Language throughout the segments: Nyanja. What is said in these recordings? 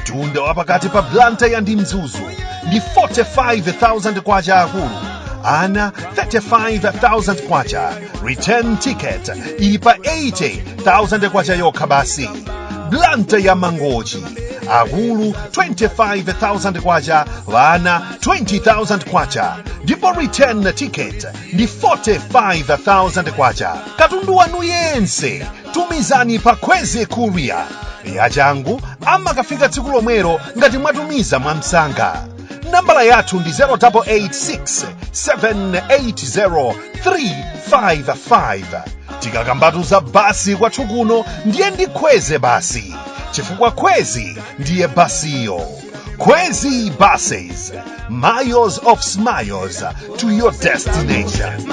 mtunda wa pakati pa blantyre ndi mzuzu ndi 45,000 kwacha akulu ana 35,000 kwacha return ticket ili pa 80,000 kwacha yokha basi blantyre mangochi akulu 25,000 kwacha ana 20,000 kwacha ndipo return ticket ndi 45,000 kwacha katundu wanu yense tumizani pa kwezy courier yachangu amakafika tsiku lomwelo ngati mwatumiza mwamsanga nambala yathu ndi 0886 780 355 tikakambatu za basi kwathu kuno ndiye ndi kwezy basi chifukwa kwezy ndiye basiyo kwezy buses miles of smiles to your destination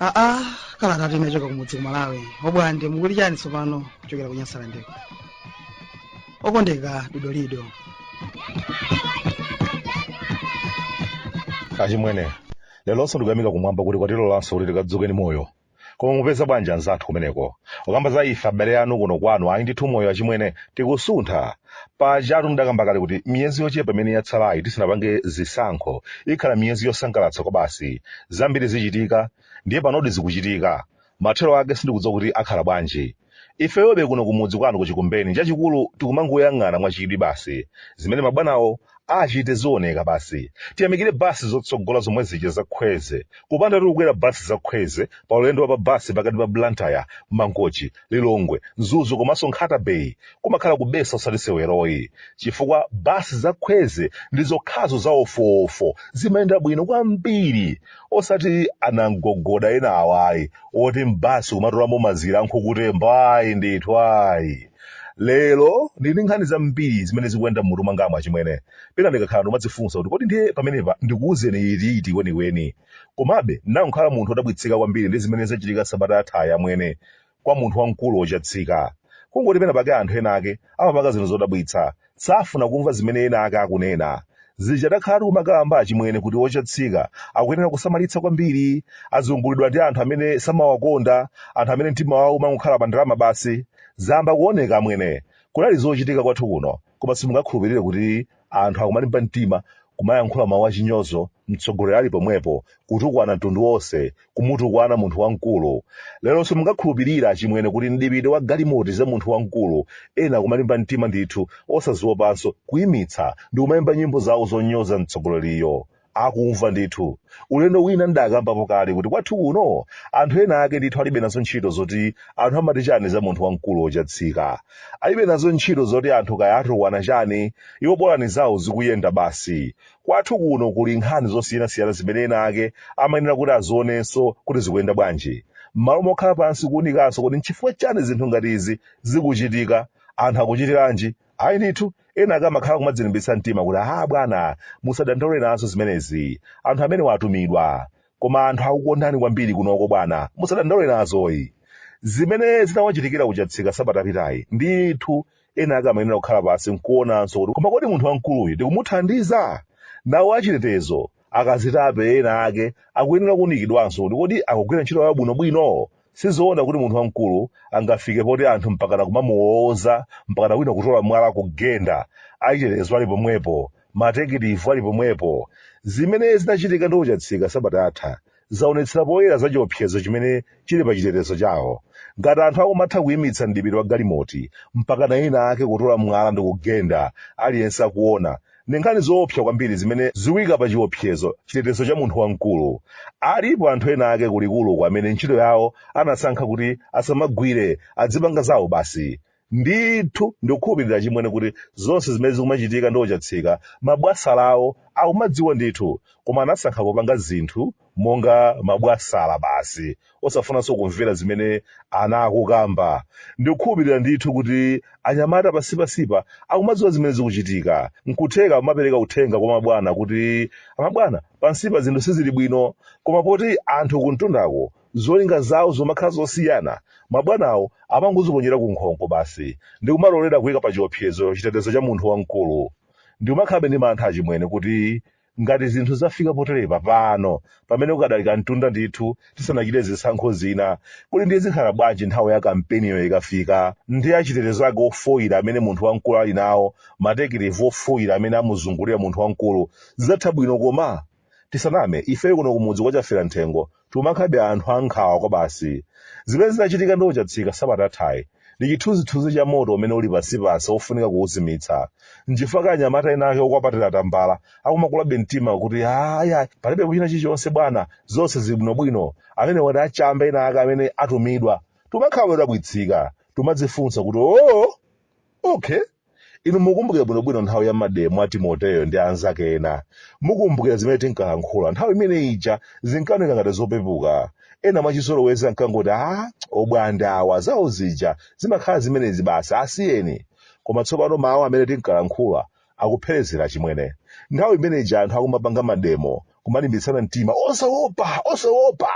aa kalata tinachoka kumudzi ku malawi obwande mukuti chani tsopano kuchokera ku nyasalandeko okondeka dodolido achimwene leronso ndikuyamika kumwamba kuti kwatilolanso kuti tikadzuke ni moyo koma mupeza bwanji anzathu kumeneko kukamba za ife abale anu kuno kwanu ayi ndithu moyo achimwene tikusuntha pajatu ndidakamba kale kuti miyezi yochepa imene yatsalayi tisanapange zisankho ikhala miyezi yosangalatsa kwabasi zambiri zichitika ndiye panodi zikuchitika mathero ake sindikudziwa kuti akhala bwanji Ifeyobe kuno kumudzi kwanu ku Chikumbeni chachikulu tikumangoyang'ana mwa chidwi basi zimene mabwanawo achite zioneka basi. Tiyamikire bus zotsogola zomwe zija za Kwezy. Kupandatu kukwera bus za Kwezy pa ulendo wa pa bus pakati pa Blantyre, Mangochi, Lilongwe, Mzuzu komanso Nkhata Bay kumakhala kubetsa osati sewero ayi. Chifukwa bus za Kwezy ndi zokhazo za wofuwofu zimayenda bwino kwambiri. osati anamgogoda ena awayi oti m'basi kumatolamo mazira a nkhukutembo ayi ndithu ayi lero ndili ndi nkhani zambiri zimene zikuyenda m'mutu mwangamu achimwene pena ndikakhala ndimadzifunsa kuti kodi ndiye pamenepa ndikuwuzeni iti iti kwenikweni komabe ndinakhala munthu odabwitsika kwambiri ndi zimene zachitika sabata yathayi amwene kwa munthu wamkulu wochatsika. Kungoti penapake anthu enaake amapanga zinthu zodabwitsa, safuna kumva zimene enaake akunena. Zija takhala tikumakamba achimwene kuti ochatsika akuyenera kusamalitsa kwambiri, azungulidwa ndi anthu amene samawakonda, anthu amene mtima wawo umangokhala pa ndalama basi. Zayamba kuoneka amwene. Kunali zochitika kwathu kuno, koma simungakhulupirire kuti anthu akumalimba mtima kumayankhula mawu achinyozo mtsogoleri ali pomwepo kutukwana mtundu wonse kumutukwana munthu wamkulu lero simungakhulupirira achimwene kuti mdipiti wa galimoti za munthu wamkulu ena akumalimba mtima ndithu osaziopanso kuimitsa ndi kumayimba nyimbo zawo zonyoza mtsogoleriyo akumva ndithu ulendo wina ndidakambapo kale kuti kwathu kuno anthu ena ake ndithu alibe nazo ntchito zoti anthu amati chani za munthu wamkulu ochatsika alibe nazo ntchito zoti anthu kaya atukwana chani iwo bolani zawo zikuyenda basi kwathu kuno kuli nkhani zosiyanasiyana zimene ena ake amayenera kuti azionenso kuti zikuyenda bwanji m'malo mokhala pansi kuunikanso kuti nchifukwa chani zinthu ngati izi zikuchitika anthu akuchitiranji Ayi ndithu, ena ake amakhala kumadzilimbitsa mtima kuti, Haa bwana, musadandaule nazo zimenezi. Anthu amenewa atumidwa. Koma anthu akukondani kwambiri kunoko bwana, musadandaule nazoyi. Zimene zinawachitikira ku Chatsika sabata yapitayi, ndithu ena ake amayenera kukhala pansi n'kuonanso kuti koma kodi munthu wamkuluyu tikumuthandiza? Nawo achitetezo, akazitape ena ake akuyenera kuunikidwanso kuti kodi akugwira ntchito yawo bwinobwino? Sizoona kuti munthu wamkulu angafike poti anthu mpakana kumamuwowoza mpakana wina kutola mwala kugenda, achitetezo ali pomwepo, matekitivi ali pomwepo. Zimene zinachitika ndi Ochatsika sabata yatha zaonetsera poyera za chiopsezo chimene chili pa chitetezo chawo. Ngati anthu akumatha kuimitsa mdipiti wa galimoti mpakana wina wake kutola mwala ndikugenda aliyense akuona, ndi nkhani zoopsa kwambiri zimene zikuyika pa chiopsezo chitetezo cha munthu wamkulu alipo anthu ena ake kulikuluko amene ntchito yawo anasankha kuti asamagwire adzipanga zawo basi ndithu ndikukhulupirira achimwene kuti zonse zimene zikumachitika ndi ochatsika mabwasalawo akumadziwa ndithu koma anasankha kupanga zinthu monga mabwasala basi osafunanso kumvera zimene ena akukamba ndikukhulupirira ndithu kuti anyamata pansipansipa akumadziwa zimene zikuchitika nkutheka amapereka uthenga kwa mabwana kuti amabwana pansipa zinthu sizili bwino koma poti anthu kumtundako zolinga zawo zumakhala zosiyana mabwanawo amangoziponyera ku nkhongo basi ndikumalolera kuyika pa chiopsezo chitetezo cha munthu wamkulu ndikumakhabe ndi mantha achimwene kuti ngati zinthu zafika poterepa pano pamene kukadali kamtunda ndithu tisanachite zisankho zina kodi ndiye zikhala bwanji nthawi ya kampeniyo ikafika ndi achitetezo ake ofoyira amene munthu wamkulu ali nawo matekitivi ofoyira amene amuzungulira munthu wamkulu zidzatha bwino koma tisaname ifeyo kuno kumudzi kwa chafera mthengo timakhabe anthu ankhawa kwabasi. Zimene zinachitika ndi Ochatsika sabata yathayi ndi chithunzithunzi cha moto umene uli pansipansi wofunika kuuzimitsa. N'chifukwa anyamata enaake okwapatira tambala akumakulabe mtima kuti, Aya, palibepo china chilichonse bwana, zonse zili bwinobwino. Amenewa ndi achamba enaake amene atumidwa. Timakhala odabwitsika. Timadzifunsa kuti, Oo! okay inu mukumbukira bwinobwino nthawi ya mademo a timoteyo ndi anzake ena mukumbukira zimene tinkalankhula nthawi imene ija zinkaoneka ngati zopepuka ena mwachizolowezi ankangoti a obwande awa zawo zija zimakhala zimenezi basi asiyeni koma tsopano mawu amene tinkalankhula akupherezera achimwene nthawi imene ija anthu akumapanga mademo kumalimbitsana mtima osaopa osaopa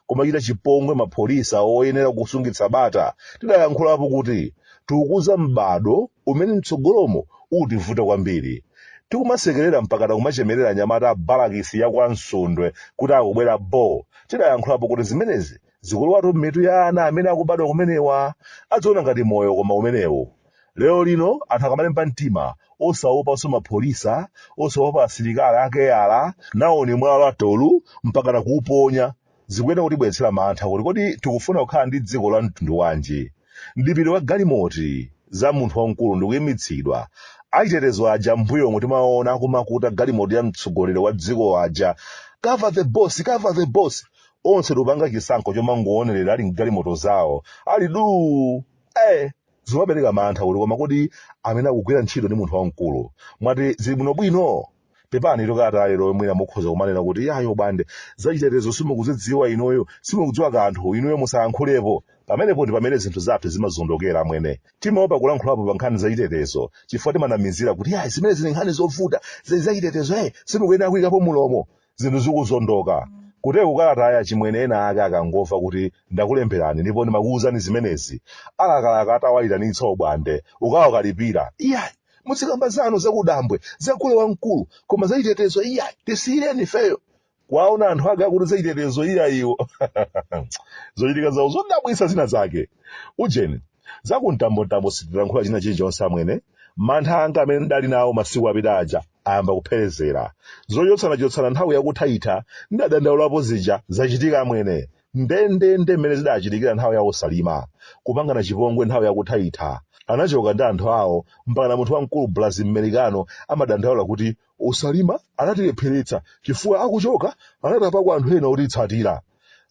kumachita chipongwe mapholisa oyenera kusungitsa bata tidayankhulapo kuti tikukuza m'bado umene mtsogolomo utivuta kwambiri tikumasekerera mpakana kumachemerera anyamata a balakisi ya kwa msundwe kuti akubwera bo tidayankhulapo kuti zimenezi zikulowatu m'mitu ya ana amene akubadwa kumenewa adziona ngati moyo koma umenewu lero lino anthu akamalimba mtima osaopanso mapholisa osaopa asilikali a keyala naoni mwala atola mpakana kuuponya zikuyenera kutibweretsera mantha kuti kodi tikufuna kukhala ndi dziko la mtundu wanji mdipiti wa galimoti za munthu wamkulu ndikuyimitsidwa achitetezo aja mbuyo omwe timaona akumakuta galimoti ya mtsogoleri wa dziko aja cover the boss cover the boss onse ndikupanga chisankho chomangoonerera ali mgalimoto zawo ali duu eh zimapereka mantha kuti koma kodi amene akugwira ntchito ndi munthu wamkulu mwati zili bwinobwino pepani tokata lero mwina mukhoza kumanena kuti yayi obwande zachitetezo simukuzidziwa inuyo simukudziwa kanthu inuyo musayankhulepo pamenepo ndi pamene zinthu zathu zimazondokera amwene timaopa kulankhulapo pa nkhani zachitetezo chifukwa timanamizira kuti yayi zimene zili nkhani zovuta zili zachitetezo e simukuyenera kuyikapo mulomo zinthu zikuzondoka kuteroku kalatayi achimwene ena ake akangomva kuti ndakulemberani ndipo ndimakuwuzani zimenezi alakalaka atawayitanitsa obwande kukawakalipira iyayi muzikamba zanu zakudambwe za gule wamkulu koma zachitetezo iyayi tisiyireni ifeyo kuwaona anthu ake akuti zachitetezo iyayiwo zochitika zawo zodabwitsa zina zake ujeni za kumtambontambo sitilankhula china chilichonse amwene mantha anga amene ndidali nawo masiku apita aja ayamba kupherezera zochotsanachotsana nthawi yakuthaitha ndidadandaulapo zija zachitika amwene ndendende mmene zidachitikira nthawi ya osalima kupangana chipongwe nthawi yakuthaitha anachoka ndi anthu awo mpakana munthu wamkulu bulazi mmerikano amadandaula kuti osalima anatilepheretsa chifukwa akuchoka anatapako anthu ena otitsatira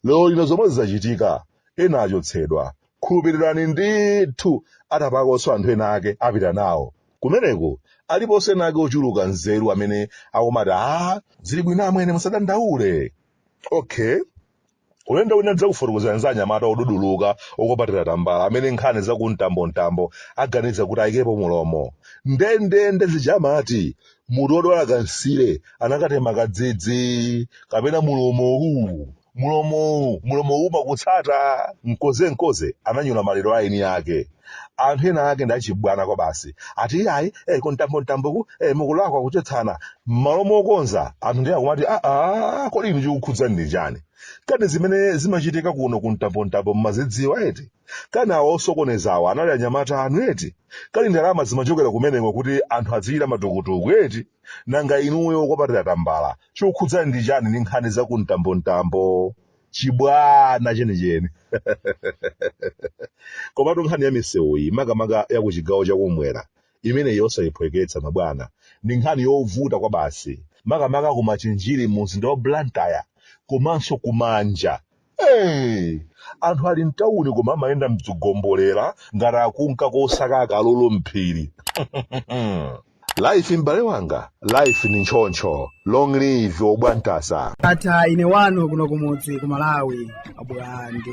lero lino zomwezi zachitika ena achotsedwa khulupirirani ndithu atapakonso anthu ena ake apita nawo kumeneko aliponso ena ake ochuluka nzeru amene akumati a zili bwino amwene musadandaule okay ulendo wina ndidzakufotokozerani za anyamata oduduluka okupatira tambala amene nkhani za kumtambontambo aganiza kuti ayikepo mulomo ndendende zija amati mutu odwala kansire anakatema kadzidzi kapena mulomo uwu Mlomowu, mlomowu umakutsata! Nkonzenkonze ananyula maliro a eni ake. Anthu ena ake ndi achibwana kwabasi. Ati iyayi, eh, kumtambomtamboku, eh, mukulakwa kuchotsana. M'malo mokonza, anthu ndiye akumati, ah, ah, kodi inu chikukhudzani ndi chani? Kani zimene zimachitika kuno kumtambomtambo mumazidziwa eti? Kani awa osokoneza awa anali anyamata anu eti? Kani ndalama zimachokera kumeneko kuti anthu adzichita matukutuku eti? nanga inuyo akwapatira tambala chikukukhudzani ndi chani ndi nkhani za kumtambomtambo chibwana chenicheni komatu nkhani ya misewu iyi makamaka ya ku chigawo chakumwera imeneyi osayiphweketsa mabwana ndi nkhani yovuta kwa basi makamaka ku machinjiri mu mzinda wa blantyre komanso kumanja Hey! anthu ali mtawuni koma amayenda mdzigombolera ngati akunka kosaka akalulu mphiri life m'bale wanga life ndi choncho long live obwantasa Ndatha ine wanu kuno kumudzi ku Malawi abwande